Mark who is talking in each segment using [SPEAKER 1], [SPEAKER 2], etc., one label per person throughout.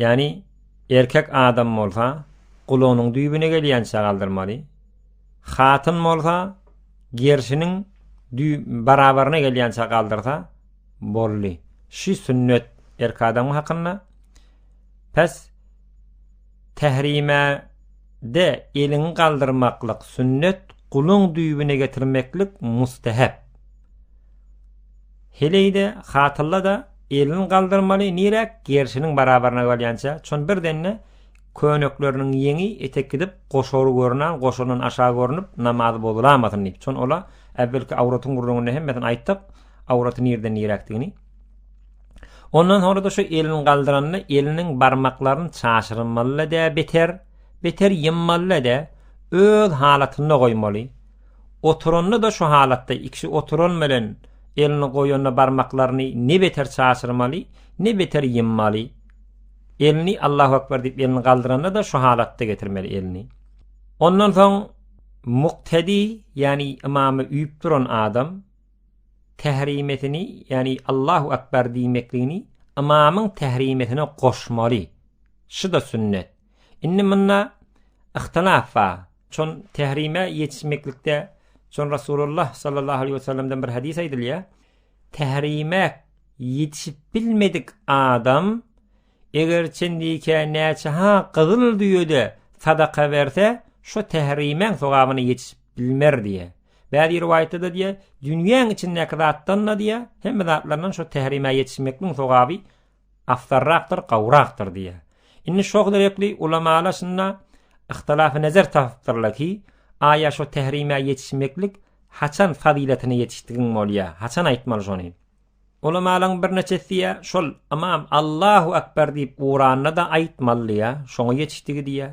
[SPEAKER 1] Ýagny erkek adam bolsa gulagynyň düýbüne gelýänçä galdyrmaly, hatyn bolsa gerşiniň barabaryna gelýänçä galdyrsa boldy. Şu sünnet erkek adam hakynda. Pes tehrimede eliňi galdyrmaklyk sünnet, guluň düýbüne getirmeklik mustahab. Heleýde, hatylla-da elini galdyrmaly, niräk gerşiniň barabaryna galýança, çon birden-de könekleriniň ýeňi etek gidip, goşary görünan, goşaryndan aşa görnüp, namazy bozulamasyn diýip, çon ola äwvelki awratyň gürrüňinde hemmesini aýtdyk, awraty nireden niräkdigini. Ondan soňra-da şu elini galdyranda eliniň barmaklaryny çaşyrmaly-da beter, beter ýymmaly-da, öz halatynda goýmaly. Oturanda-da şu halatda ikişi oturan bilen elini goýanda barmaklaryny ne beter çaşyrmaly, ne beter ýymmaly. Elini Allahu akbar diýip elini galdyranda-da şu halatda getirmeli elini. Ondan soň muktedi, ýagny ymamy üýüp duran adam tahrimetini, ýagny Allahu akbar diýmekligini ymamyň tahrimetine goşmaly. Şu-da sünnet. Indi munda ihtilaf bar. Çon tehrime ýetişmeklikde Çon Rasulullah sallallahu aleyhi ve sellemden bir hadis aýdylýar. Tehrime ýetişip bilmedik adam eger çendike näçe ha gyzyl düýede sadaka berse, şu tehrimeň sogabyny ýetişip bilmer diýe. Bäzi riwaýatda diýe, dünýäň içindäki zatdan da diýe, hemme zatlardan şu tehrime ýetişmekliň sogaby afzalrakdyr, gowrakdyr diýýär. Indi şo sebäpli ulamalar şunda yhtilafynezer tapypdyrlar ki, aýa şo tährimä ýetişmeklik haçan fazylatyna ýetişdigiň bolýar, haçan aýtmaly şony? Ulamalaryň birneçesi diýýär, şol ymam Allahu akbar diýip uranda-da aýtmaly diýýär, şoňa ýetişdigi diýýär.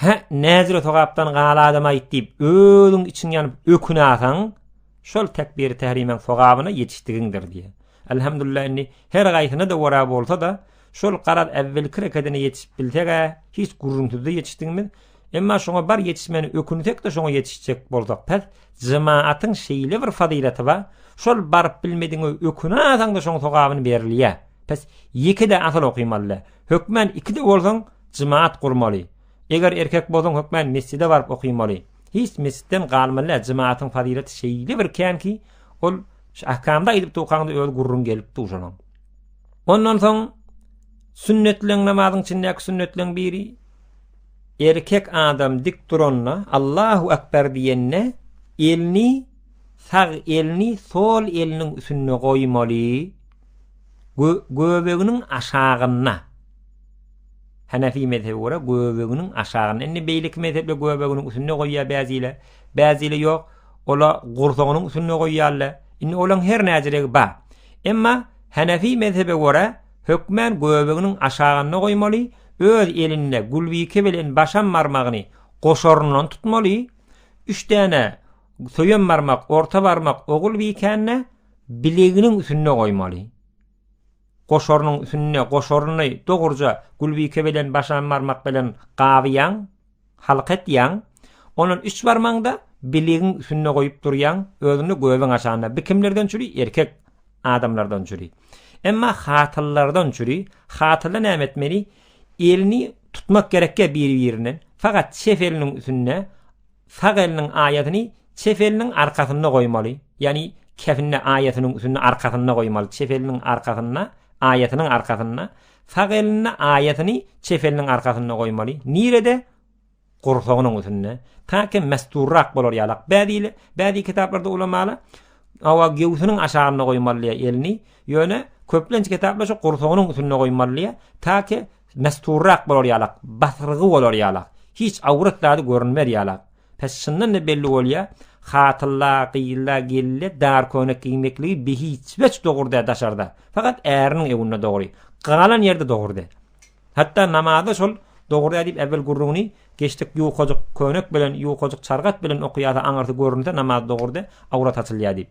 [SPEAKER 1] Hä, näzire sogapdan gal adam aýt diýip, özüň içiň ýanyp ökünäseň, şol tekbiri tährimäň sogabyna ýetişdigiňdir diýýär. Elhamdulillah indi her gaýsyna-da wara bolsa-da, şol garaz äwwelki rekedine ýetişip bilseg-ä, hiç gürrüňsizde ýetişdigimiz, emma şoňa bar ýetişmäni ökünsek-de şoňa ýetişjek bolsak pes, jemaatyň şeýle bir fazylaty bar, şol baryp bilmedigiňe ökünäseň-de şoň sogabyny berilýär. Pes, ýeke-de asyl okymaly-da. Hökmän ikide bolsaň jemaat gurmaly. Eger erkek bolsaň hökmän mesjide baryp okymaly. Hiç mesjitden galmalä jemaatyň fazylaty şeýle bir kän ki ol şu ahkamda aýdyp durkaňda öz gurruň gelip duşanaň. Ondan soň sünnetleň namazyň içindäki sünnetleň biri erkek adam dik duranda Allahu akbar diýende elini sag elini sol eliniň üstünde goýmaly. Göbeginiň aşagynda. Hanefi mezhebe görä göbeginiň aşagynda. Indi beýleki mezhepler göbeginiň üstünde goýýar bäziler. Bäziler ýok. Olar gursagynyň üstünde goýýarlar. Indi olaň her näziregi bar. Emma Hanefi mezhebe görä hökmän göbeginiň aşagynda goýmaly, öz elinde gulbike bilen başam barmagyny goşaryndan tutmaly, üç däne söýem barmak, orta barmak ogul bikände, Bileginiň üsünde goýmaly. Goşarynyň üsünde goşaryny dogruja gülbike bilen başan barmak bilen gabyýaň, halka etýäň. Ondan üç barmagyňda bilegiň üsünde goýup durýaň, özüni gözüň açanda bi kimlerden çüri erkek adamlardan çüri. Emma hatyllardan çüri, hatylda näme etmeli? Elini tutmak gerekge biri-birinden, fakat çep eliniň üsünde sag eliniň aýasyny çep eliniň arkasynda goýmaly, ýagny kefinde aýasynyň üstünde arkasynda goýmaly, çep eliniň arkasynda, aýasynyň arkasynda, sag elinde aýasyny çep eliniň arkasynda goýmaly. Nirede? Gursagynyň üstünde. Taýke mesturrak bolar ýalak. Bäzili, bäzi kitaplarda ulamalar awa gewsiniň aşagynda goýmaly elini, ýöne köplenç kitaplar şu gursagynyň üstünde goýmaly, taýke Mesturrak bolar ýalak, basyrgy bolar ýalak, hiç awrat zady görünmez ýalak. Pes çyndan-da belli bolýa, hatylla, gyzla, gelile dar köýnek giymekligi bihiçweç dogurda daşarda, fakat äriniň ewinde dogry, galan ýerde dogurda. Hatda namazda şol dogurda diýip äwel gürrüňini geçdik ýukajyk köýnek bilen, ýukajyk çargat bilen okuýasa aňyrsy görünse namaz dogurda, awrat açylýa diýip.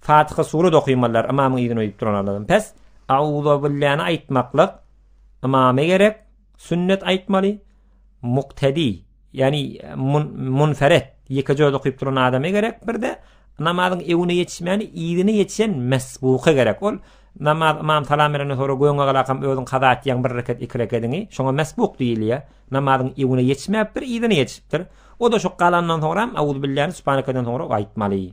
[SPEAKER 1] Fatyha surat okymalylar ymamyň yzyna uýup duranlardan pes Auzobilläni aýtmaklyk ymama gerek sünnet aýtmaly muktedi ýani munferet ýekeje özi okyp duran adama gerek birde namazyň öňüne ýetişmäni yzyna ýetişen mesbuka gerek ol namaz ymam salam berenden soňra göňe galakam özüň kaza etýäň bir reket iki rekediňi şoňa mesbuk diýilýär namazyň öňüne ýetişmäpdir yzyna ýetişipdir o-da şu galandan soňra auzubilläni subhanekeden soňra aýtmaly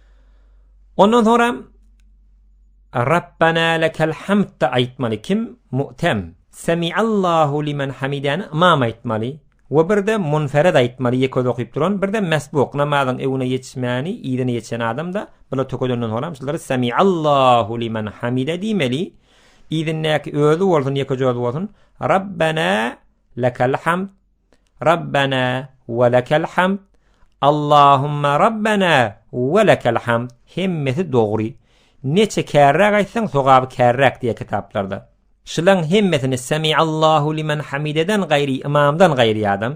[SPEAKER 1] Ondan sonra Rabbana lekel hamd aýtmaly kim mu'tem Semi'allahu limen hamidani imam aýtmaly we birde munfered aýtmaly ýeke öz okyp duran birde mesbuk namazyň öwüne ýetişmäni ýerine ýetişen adamda bula tökedenden soňam şular Semi'allahu limen hamide diýmeli ýerindäki özi bolsun ýeke öz bolsun Rabbana lekel hamd Rabbena we lekel hamd, Allahumma Rabbena we lekel hamd hemmesi dogry. Neçe kärräk aýtsaň sogaby kärräk diýýär kitaplarda. Şulaň hemmesini Semiallahu limen hamideden gaýry ymamdan gaýry adam,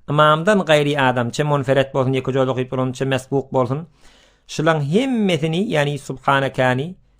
[SPEAKER 1] ymamdan gaýry adam çe monferet bolsun ýeke jol okyp bolança mesbuk bolsun. Şulaň hemmesini ýagny subhanakany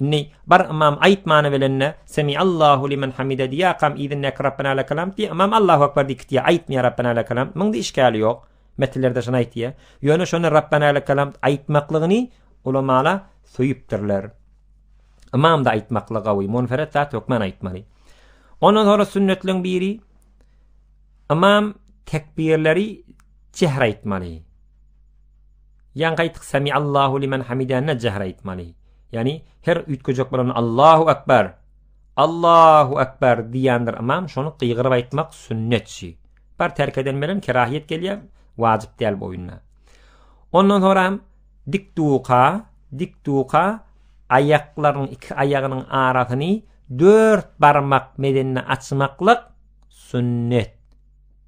[SPEAKER 1] Indi bar ymam aýt many bilende Semiallahu limen hamide diýakam yzyndaky Rabbena lekal hamd diýe ymam Allahu akbar diýip gitýä aýtmaýa Rabbena lekal hamd munda işgäli ýok metnlerde şony aýtýa ýöne şony Rabbena lekal hamd aýtmaklygyny ulamala söýüpdirler ymamda aýtmakly gawy munferet zat hökman aýtmaly. Ondan sonra sünnetleň biri ymam tekbirleri çehre aýtmaly. Ýaňky aýtdyk Sami Allahu limen hamida ne jähr aýtmaly? Ýagny her üýtgejek bolanda Allahu akbar. Allahu akbar diýendir ymam şony gygyryp aýtmak sünnet şi. Bar terk eden bilen kerahyýet gelýär, wajyp däl bu oýunda. Ondan soňra hem dik duka, dik duka aýaklaryň iki aýagynyň arasyny dört barmak medenine açmaklyk sünnet.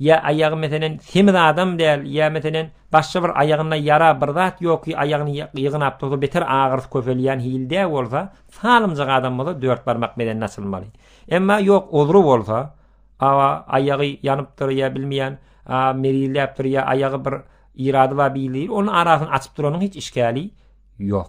[SPEAKER 1] Ýa aýagy meselen semiz adam däl, ýa meselen başga bir aýagynda ýara, bir zat ýoky aýagyny ýygnap dursa beter agyrysy köpelýän hilde bolsa, salymjak adam bolsa dört barmak bedenini açylmaly. Emma ýok ozry bolsa, awa aýagy ýanypdyr ýa bilmeýän merizläpdir ýa aýagy bir ýyrady bar beýldir, onuň arasyny açyp duranyň hiç işgäli ýok.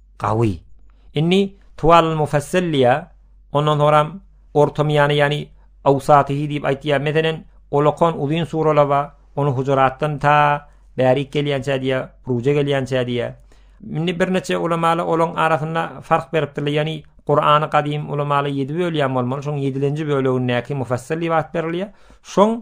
[SPEAKER 1] Gawy. Indi Tuwalul Mufassal diýýä, ondan soňram orta miýany ýagny Awsatyhy diýip aýtýa. Meselen, olakan uzyn suralar bar, ony Hujuratdan ta bärik gelýänçä diýýä, Ruje gelýänçä diýýä. Indi birneçe ulamalar olaryň arasynda fark beripdirler, ýagny Kurany gadym ulamalar ýedi bölýän bolmaly, şoň ýedilenji bölegindäki Mufassal diýip at berilýä. Şoň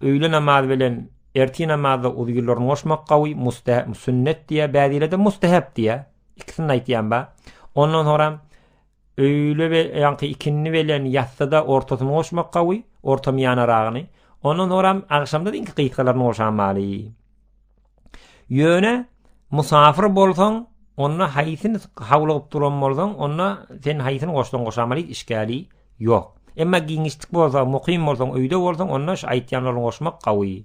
[SPEAKER 1] Öýle namazy bilen ertir namazy uzýyllaryny goşmak gawy muste sünnet diýýär, bäzilerde mustehep diýýär. Ikisini aýtýan bar. Ondan soňra öýle we ýaňky ikindi bilen ýatsyda ortasyny goşmak gawy, ortamyýanaragyny. Ondan soňra agşamda diňki gysgalaryny goşan maly. Ýöne musafir bolsaň, onda haýsyny hawlygyp duran bolsaň, onda sen haýsyny goşsaň goş amaly işgäli ýok. Emma giňişlik bolsa, mukym bolsaň, öýde bolsaň, onda şu aýtýanlaryny goşmak gawy.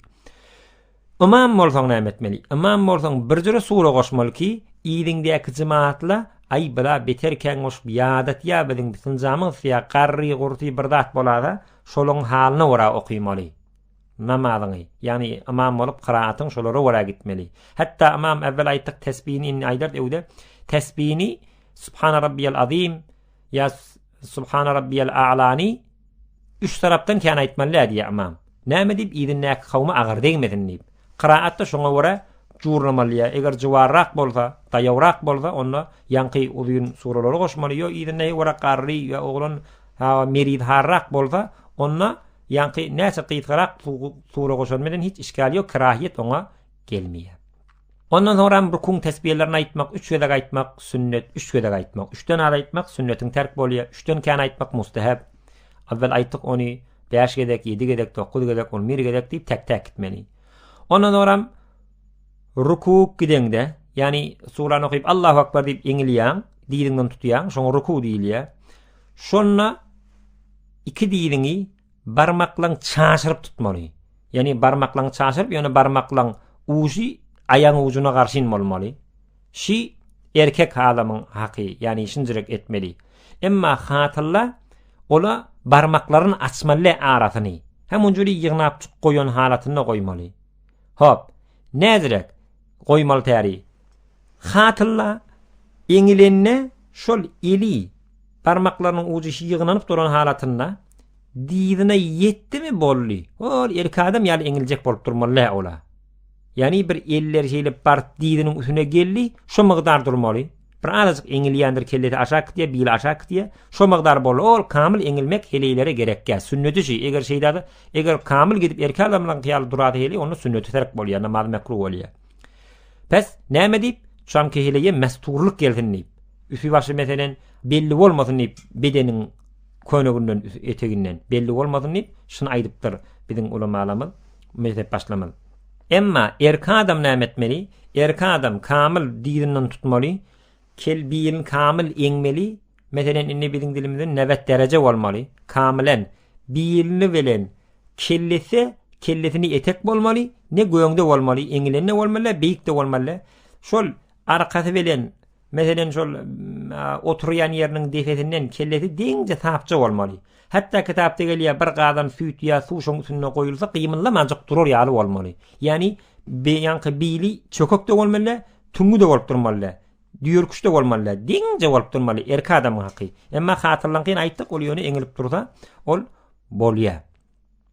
[SPEAKER 1] Ymam bolsaň näme etmeli? Ymam bolsaň, bir jüre sure goşmaly ki, yzyňdaky jemaatla aý bla beter kän goşup ýadatýa biziň bitinjamyz syýa garry-gurty bir zat bolada, şolaň halyna görä okymaly. Namazyňy, ýagny ymam bolup kyraatyň şolara görä gitmeli. Hatda ymam äwwel aýtdyk tesbini indi aýdar öwde tesbini Subhana rabbiyal azim ýa Subhana rabbiyal a'lani üç tarapdan kän aýtmaly diýýär ymam. Näme diýip ýerindäki kawma agyr degmesin diýip. Kyraatda şoňa görä jurlamaly. Eger juwarrak bolsa, daýawrak bolsa, onda ýaňky uzyn suralary goşmaly. Ýa ýerinde ýewrak garry ýa oglan ha meriz harrak bolsa, onda Ýaňky näçe gysgarak sura goşan bilen hiç işgäl ýok, kerahiýet oňa gelmeýär. Ondan soňram rukuň tesbihlerini aýtmak, üç gezek aýtmak, sünnet, üç gezek aýtmak, üçden az aýtmak sünnetiň terk bolýar, üçden kän aýtmak mustahab. Awwel aýtdyk ony bäş gezek, ýedi gezek, dokuz gezek, on bir gezek diýip täk-täk gitmeli. Ondan soňram rukuk gideňde, ýagny surany okyp Allahu akbar diýip eňilýäň, diliňden tutýaň, şoňa ruku diýilýär. Şonda Iki diliňi barmaklaň çaşyryp tutmaly. Ýagny barmaklaň çaşyryp, ýöne barmaklaň ujy aýagyň ujuna garşyn bolmaly. Şi erkek adamyň haky, ýagny şinjirek etmeli. Emma hatylla ola barmaklaryn açmalle arasyny. Hem onjali ýygnap goýan halatynda goýmaly. Hop, näzirek, goýmaly täri. Hatylla eňilende şol eli barmaklarynyň ujy ýygnanyp duran halatynda dyzyna ýetdimi boldy. Ol erki adam ýaly eňiljek bolup durmaly lä ola. Ýani bir elleri şeýle bart dyzynyň üstüne geldi, şo mygdar durmaly. Bir azajyk eňilýändir kellesi aşak gitýär, bili aşak gitýär. Şo mygdar boldy. Ol kamyl eňilmek heleýlere gerekýär. Sünneti şi, eger şeýdäde, eger kamyl gidip erki adamlaň ýaly durady heleý, onda sünneti terk bolýar, namaz mekruh bolýar. Pes, näme diýip, çamky heleýe mesturlyk gelsin diýip. Üsi başy meselen belli bolmasyn diýip, bedeniň köneginden, eteginden belli bolmasyn diýip, şuny aýdypdyr biziň ulamalarymyz. Mezhep başlamaz. Emma erki adam näme etmeli? Erki adam kamyl dizinden tutmaly, kel biýirini kamyl eňmeli, meselen, indi biziň dilimizde nebet dereje bolmaly, kamylen, biýilini bilen kellesi, kellesini etek bolmaly, ne göňde bolmaly, eňilende bolmaly, beýikde bolmaly. Şol arkasy bilen Meselem şol oturýan ýeriniň depesinden kellesi deňje sapja bolmaly. Hatda kitapda gelýär bir gazan süýt ýa suw şoň üstünde goýulsa gymyldamanjyk durar ýaly bolmaly. Ýani beýanky bili çökek de bolmaly, tüňňi de bolup durmaly. Düýerküç de bolmaly, deňje bolup durmaly erki adamyň haky. Emma hatyrlaňky aýtdyk ol ýöne eňilip dursa ol bolýar.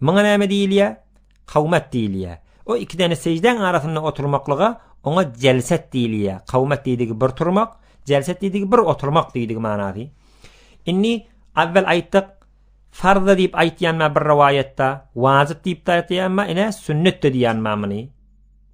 [SPEAKER 1] Muňa näme diýilýär? Kawmat diýilýär. O iki däne sejdäň arasynda oturmaklyga oňa jelset diýilýär. Kawmat diýdigi bir turmak, jelset diýdigi bir oturmak diýdigi manasy. Indi awvel aýtdyk, farz diýip aýtýanma bir rowaýatda, wajyp diýip de aýtýanma, ine sünnet de diýýänma muny.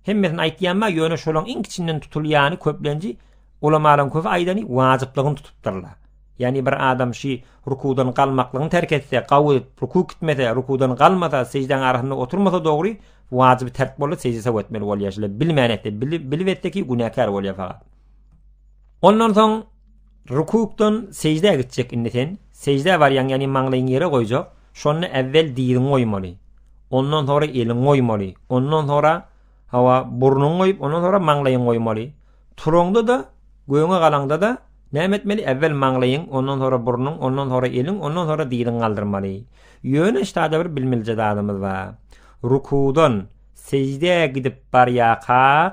[SPEAKER 1] Hemmesini aýtýanma ýöne şolaň iň kiçinden tutulýany köplenji ulamalaň köpi aýdany wajyplygyny tutupdyrlar. Ýani bir adam şi rukudan galmaklygyny terk etse, gawy ruku kitmese, rukudan galmasa, sejdaň arasynda oturmasa dogry, wajyby terk boldy, sejde saw etmeli bolýar. Şle bilmän etse, bilip etse ki günäkär bolýar fakat. Ondan soň Rukukdan sejdä gitjek indi sen, sejdä barýaň ýagny maňlaýyňy ýere goýjak, şonda äwwel diziňi goýmaly, ondan sonra eliňi goýmaly, ondan sonra hawa burnuňy goýup ondan sonra maňlaýyňy goýmaly, turaňda-da göwne galaňda-da näme etmeli äwwel maňlaýyň ondan sonra burnuň ondan sonra eliň ondan sonra diziňi galdyrmaly. Ýöne ştada bir bilmelije zadymyz bar. Rukudan sejdä gidip barýakak,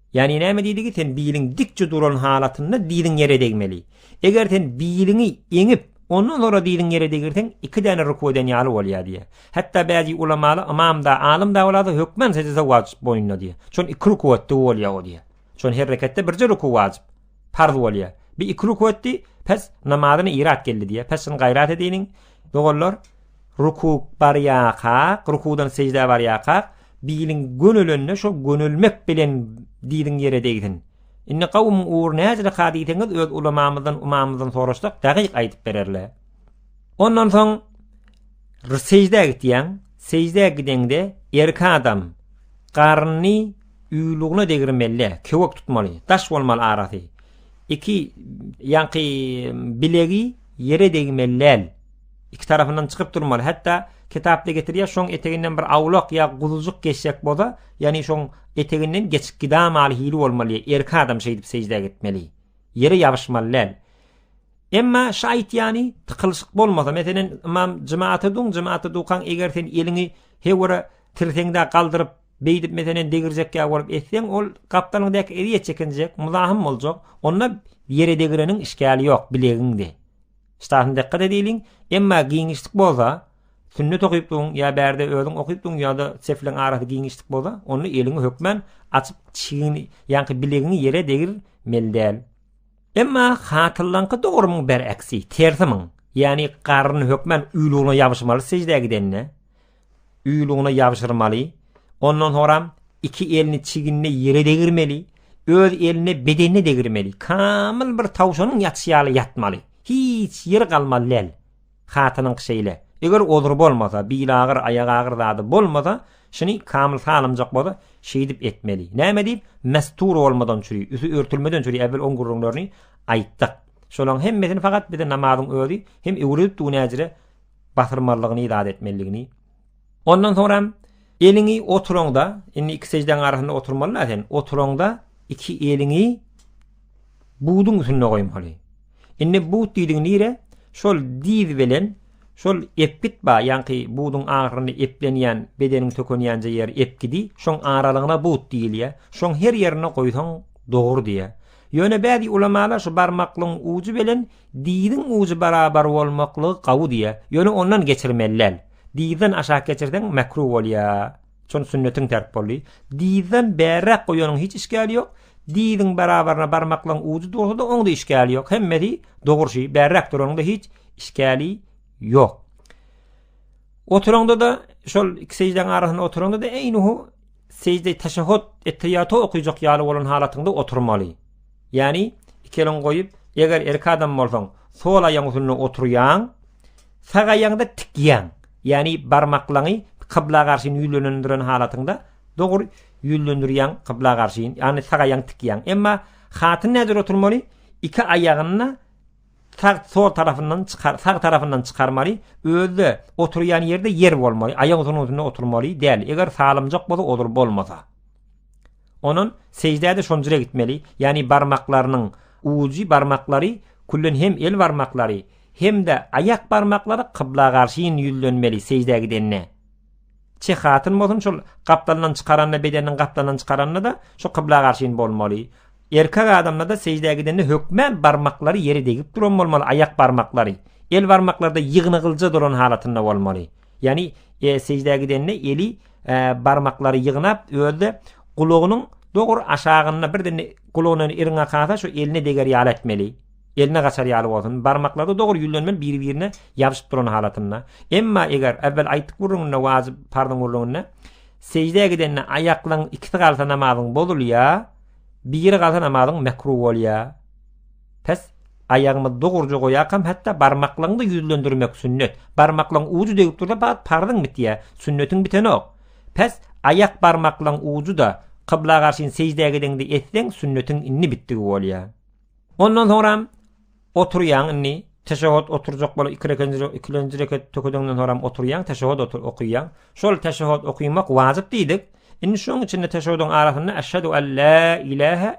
[SPEAKER 1] Ýagny näme diýligi sen biliň dikje duran halatynda diliň ýere degmeli. Eger sen biliňi eňip, ondan sonra diliň ýere degirseň iki däne ruku eden ýaly bolýar diýýär. Hatda bäzi ulamala ymamda, alymda bolada hökmen sejde wajyp boýnuna diýýär. Şon iki ruku etdi bolýar o diýýär. Şon her reketde birje ruku wajyp. Parz bolýa. Bi iki ruku etdi, pes namazyny irat geldi diýe. Pes şuny gaýrat ediniň. Doganlar, ruku barýaka, rukudan sejdä barýaka, biliň gönelende şo gönelmek bilen diliň ýere degsin. Indi gawum ugur näce rekat diýseňiz öz ulamamyzdan, umamyzdan soraşsak, dagyk aýdyp bererler. Ondan soň sejdä gitýäň. Sejdä gideňde erkek adam garnyny Uýlugyna degirmeli, köwek tutmaly, daş bolmaly arasy. Iki ýanky bilegi ýere degmeliläl. Iki tarapyndan çykyp durmaly. Hatda kitapda getirýär, şoň eteginden bir awlak ýa guzujyk geçjek bolsa, ýagny şoň eteginden geçip gidamaly hili bolmaly. Erki adam şeýdip sejdä gitmeli. Ýere ýabyşmalyläl. Emma şu aýtýany tykylyşyk bolmasa, meselen, imam jemaata duň, jemaata dukaň, eger sen eliňi hewara tirseňde galdyryp Beýdip meselen degirjek ýaly bolup etseň ol gapdalyň dek ezýet çekinjek, muzahym boljak. Onda ýere degireniň işgäli ýok, bilegiňde. Ştasyny dykgat edeliň. Emma giňişlik bolsa, sünnet okypdygyň ýa bärde özüň okypdygyň ýa-da sefleň arasy giňişlik bolsa, onda eliňi hökmän açyp çigini, ýaňky bilegiňi ýere degir meli däl. Emma hatyllaňky dogrumyň bergksi, tersi myň. Ýagny garryny hökmän uýlugyna ýabyşmaly sejdä gidende. uýlugyna ýabşyrmaly, ondan soňram iki elini çiginde ýere degirmeli, öz elini bedenine degirmeli, kamyl bir tawşanyň ýatyşy ýaly ýatmaly, hiç ýeri galmaly däl. Hatynyňky şeýle. Eger ozury bolmasa, bilagyr, aýagagyr zady bolmasa, şuny kamyl salymjak bolsa, şeýdip etmeli. Näme diýip, mestur bolmadan çüri, üsti örtülmeden çüri äwel oň gürrüňlerini aýtdyk. Şolaň hemmesini fakat bize namazyň özi hem öwredipdi günäjire, basyrmalygyny zat etmeliligini. Ondan soňra hem eliňi oturoňda, indi iki sejdäň arasynda oturmaly da sen, oturoňda iki eliňi buduň üstünde goýmaly. Indi but diýdiň nire? Şol diz bilen şol epgit ba, ýaňky buduň agyrynda eplenýän, bedeniň sökenýänje ýer epgidi, şoň aralygyna but diýilýär. Şoň her ýerine goýsaň dogry diýýär. Ýöne bäzi ulamalar şu barmaklygyň ujy bilen diziň ujy barabar bolmaklygy gawy diýýär. Ýöne ondan geçirmeli däl. Dizden aşak geçirseň mekruh bolýar. Şony sünnetiň terk boldy. Dizden bärräk goýanyň hiç işgäli ýok. Diziň barabaryna barmaklygyň ujy dursa-da oň-da işgäli ýok. Hemmesi dogry şi, bärräk duranyň-da hiç işgäli ýok. Oturanda-da şol iki seždäň arasynda oturanda-da eýnuhu sežde, teşehhut, etteýýatu okujak ýaly bolan halatyňda oturmaly. Ýagny, iki eliňi goýup, eger erkek adam bolsaň, sol aýagyň üstünde oturýaň, sag aýagyňda tikýäň. Ýagny, barmaklaňy kybla garşyn ýüzlenendiren halatyňda, dogry, ýüzlendirýäň kybla garşyn, ýagny sag aýagyňy tikýäň. Emma hatyn nädür oturmaly? Iki aýagyny Tagt sol tarafyndan çykar, sag tarafyndan çykarmaly, özde oturýan ýerde ýer bolmaly, aýak uzunyň üstünde oturmaly däl. Eger salymjak bolsa odur bolmasa. Onan sejdäde şonjure gitmeli, ýagny barmaklarynyň ujy barmaklary küllen hem el barmaklary hem-de aýak barmaklary kybla garşy ýüzlenmeli sejdä gidende. Çeh hatyn bolsun şol gapdalyndan çykaranda bedeniniň gapdalyndan çykaranda-da şu kybla garşyn bolmaly. Erkek adamda-da sejdä gidende hökmän barmaklary ýere degip duran bolmaly, aýak barmaklary. El barmaklarda ýygnagylja duran halatynda bolmaly. Ýagny e, sejdä gidende eli e, barmaklary ýygnap özde gulagynyň dogur aşagynda birden gulagyny iriňe kasa şu eline deger ýaly etmeli. Eline gaçar ýaly bolsun. Barmaklary dogry ýüzlenmeli biri-birine ýabyşyp duran halatynda. Emma eger, äwwel aýtdyk gürrüňinde wajyp, parzyň gürrüňinde, seždä gidende aýaklaň ikisi galsa namazyň bozulýa, biri galsa namazyň mekruh bolýa. Pes aýagymyzy dogruja goýakam hatda barmaklaňda ýüzlendirmek sünnet. Barmaklaň ujy degip dursa fagt parzyň bitýä, sünnetiň bitenok. Pes aýak barmaklaň ujy-da kybla garşyn seždä gidende etseň sünnetiň indi bitdigi bolýa. Ondan soňram oturýaň indi. Teşehhut oturjak bolup iki rekat, ikinji rekat tökedeňden soňram oturýaň, teşehhut otur okaýaň. Şol teşehhut okamak wajyp diýdik. Indi şoň içinde teşehhudyň arasynda eşhedü alla ilahe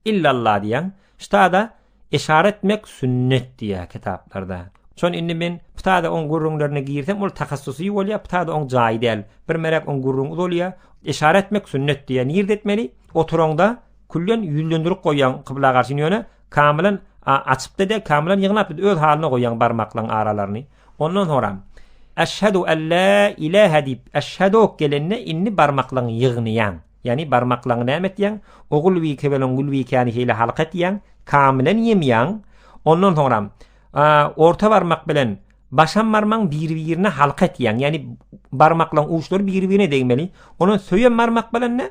[SPEAKER 1] illallah diýýäň. Ştada eşaret etmek sünnet diýýär kitaplarda. Şon indi men pitada on gürrüňlerine girsem, ol tahassusy bolýar, pitada on jaýy däl. Bir merek on gürrüň uzalýar. Eşaret etmek sünnet diýýär. Nirde etmeli? Oturaňda Küllen ýüzlendirip goýýaň kybla garşyny ýöne kamylan açypda dek kamylan ýygnap öz halyna goýýaň barmaklaň aralaryny ondan soram Eşhedu alla ilahe diýip eşhedok gelende indi barmaklaň ýygnaýaň ýagny barmaklaň näme etýäň ogul bi kebelen gül bi käni şeýle halka etýäň kamylan ýemýäň ondan soram orta barmak bilen başam barmaň bir birine halka etýäň ýagny barmaklaň uçlary bir birine degmeli ondan söýem barmak bilen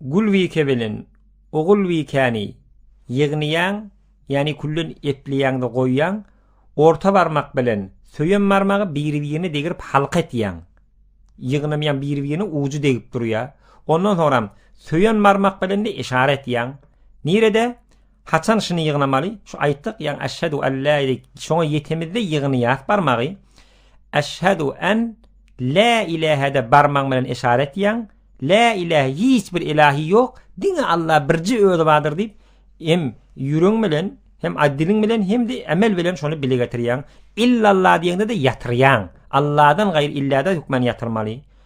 [SPEAKER 1] Gulbike bilen Ogulbikäni ýygnaýaň, ýagny külden epleýäň-de goýýaň, orta barmak bilen söýen barmagy biri-birine degirip halka etýäň. Ýygnam ýaň biri-birine ujy degip durýar. Ondan soňram söýen barmak bilen-de işara etýäň. Nirede? Haçan şyny ýygnamaly? Şu aýtdyk, ýagny eşhedü en la ilik. Şoňa ýetemizde ýygnaýas barmagy. Eşhedü en la ilahede barmaň bilen eşaret ýaň. La ilahe hiç bir ilahi ýok. Diňe Allah birji özi bardyr diýip, hem ýüregiň bilen, hem adiliň bilen, hem de emel bilen şony bile getirýäň. Illallah diýende de ýatyrýaň. Allahdan gaýry illada hukman ýatyrmaly.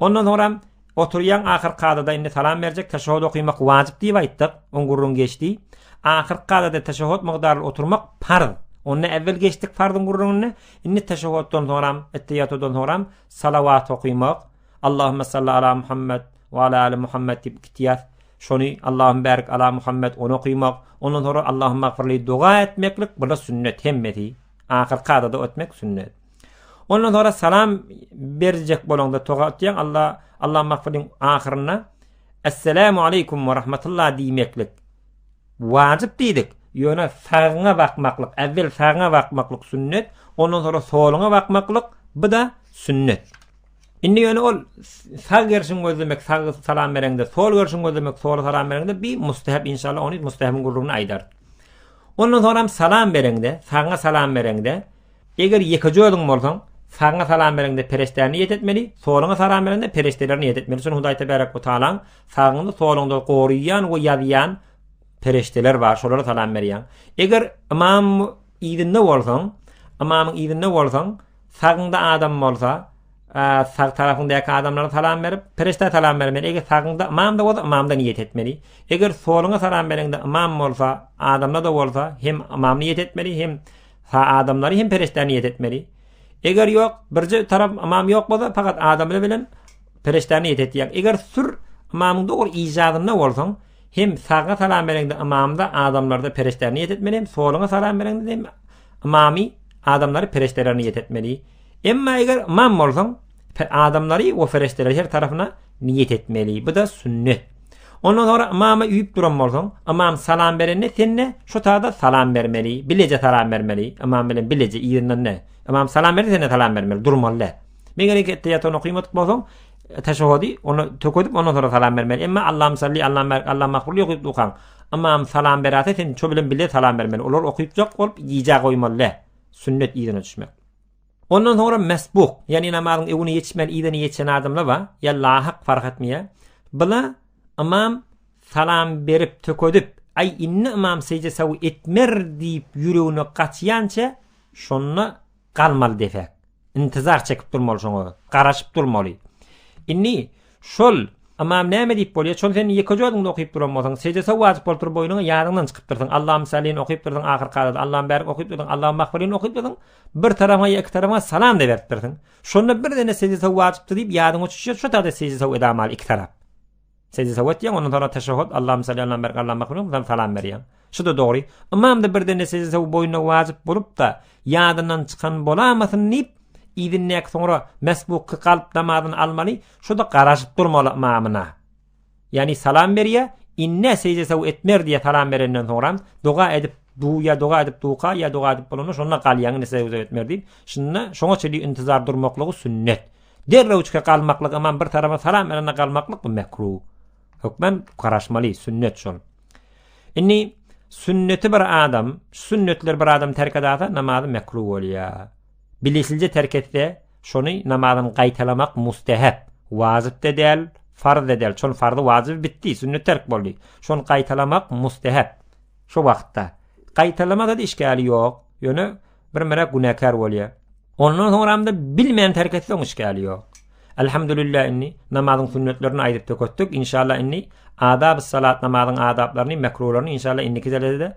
[SPEAKER 1] Ondan soňra oturýaň ahyr kadada indi salam berjek teşehhut okymak wajyp diýip aýtdyk, oň gürrüňi geçdi. Ahyr kadada teşehhut mukdaryly oturmak parz. Onda äwel geçdik farzyň gürrüňini, indi teşehhutdan soňram, ettehiyatudan soňram salawat okymak, Allahümme salli ala Muhammed we ala ali Muhammed diýip iki tiýas şony Allahümme bärik ala Muhammed ony okymak, ondan soňra Allahümme agfirli doga etmeklik bula sünnet hemmesi. Ahyr kadada ötmek sünnet. Ondan sonra salam berjek bolanda toga atýan Allah Allah mahfudin ahyrynda Esselamu aleykum ve rahmetullah diýmeklik wajyp diýdik. Ýöne sagyňa bakmaklyk, äwwel sagyňa bakmaklyk sünnet, ondan sonra soluňa bakmaklyk bu da sünnet. Indi ýöne ol sag gerşiň gözlemek, sag salam berende, sol gerşiň gözlemek, sol salam berende bir mustahab inşallah ony mustahabyn gurrugyny aýdar. Ondan sonra salam berende, sagyňa salam berende, Eger ýekeje özüň bolsaň, sagyňa salam bereňde pereşdä niýet etmeli, soluňa salam bereňde pereşdeler niýet etmeli. Şuny Hudaý Tebarek we Tagalaň sagyňda, soluňda goraýan we ýazýan pereşdeler bar, şolara salam berýäň. Eger ymam yzynda bolsaň, ymamyň yzynda bolsaň, sagyňda adam bolsa, sag tarapyňdaky adamlara salam berip, pereşdä salam bermeli. Eger sagyňda ymam da bolsa, ymamda niýet etmeli. Eger soluňa salam bereňde ymam bolsa, adamda da bolsa, hem ymam niýet etmeli, hem Ha adamlary hem perişdä niýet etmeli. Eger ýok, birje tarap imam ýok bolsa, fakat adamlar bilen perişdä niýet etýär. Eger sür imamyň dogry ijadynda bolsaň, hem saga salam berende imamda adamlarda perişdä niýet etmeli, hem soluňa salam berende hem imamy adamlary perişdä niýet etmeli. Emma eger imam bolsaň, Adamlary we perişdeleri her tarapyna niýet etmeli. Bu-da sünnet. Ondan sonra imama üýüp duran bolsaň, imam salam berende sen-de şu taýda salam bermeli, bileje salam bermeli. Imam bilen bileje yzyndan ne? Imam salam berdi, sen-de salam bermeli, durmaly däl. Meger iki etýäten okymadyk bolsaň, teşehhudi onu tökedip ondan sonra salam bermeli. Emma Allahum salli, Allahum barik, Allahum mahfurli okyp dukan. Imam salam berýärse sen şu bilen bile salam bermeli. Olar okypjak bolup iýjä goýmaly. Sünnet ýerine düşmek. Ondan soňra mesbuk, ýagny namazyň öwüni ýetişmän yzyny ýetişen adamlar bar, ýa lahyk fark etmeýär. Bula ymam salam berip tökedip, aý indi ymam seýje sawy etmer diýip ýüregine gaçýança şonda galmaly depäk. Intizar çekip durmaly şoňa, garaşyp durmaly. Indi şol ymam näme diýip bolýar? Şol sen ýekeje özüňde okyp duran bolsaň, seýje saw wajyp bolup dur boýnuňa ýadyňdan çykyp dursaň, Allahym salin okyp dursaň ahyrky adada, Allahym bärik okyp dursaň, Allahym magfirin okyp dursaň, Bir tarama ýa iki tarama salam-da berip dursuň. Şonda birden-de sejde-saw wajypdyr diýip ýadyňa düşýär, şo taýda sejde-saw edamaly iki tarap. Sejde-saw etýäň, ondan soň teşehhut, Allahumma salli ala Muhammad, ala Muhammad, soň salam berýäň. Şu-da dogry. Ymam-da birden-de sejde-saw boýnuna wajyp bolup-da, ýadyndan çykan bolamasyn diýip, yzyndaky soňra mesbukky galyp namazyny almaly, şu-da garaşyp durmaly ymamyna. Yani salam berýä, inne sejde saw etmer diýe salam berenden soňra doga edip duýa doga edip duka ýa doga edip bolanda şonda galýan inne sejde saw etmer diýip. Şunda şoňa çeli intizar durmaklygy sünnet. Derrew çyka galmaklyk aman bir tarapa salam berende galmaklyk bu mekru. Hökmen garaşmaly sünnet şol. Inni sünneti bir adam, sünnetler bir adam terk edasa namazy mekru bolýa. Bilisilje terk etse Şony namazyny gaýtalamak mustehep, wajyp-da däl, farz-da däl. Şol farzy wajyby bitdi, sünnet terk boldy. Şony gaýtalamak mustehep. Şo wagtda. Gaýtalamasa-da işgäli ýok. Ýöne birmere günäkär bolýar. Ondan soňram-da bilmän terk etseň işgäli ýok. Elhamdülillah indi namazyň sünnetlerini aýdyp töketdik. Inşallah indi adab-y salat namazyň adaplaryny, mekruhlaryny inşallah indiki dersde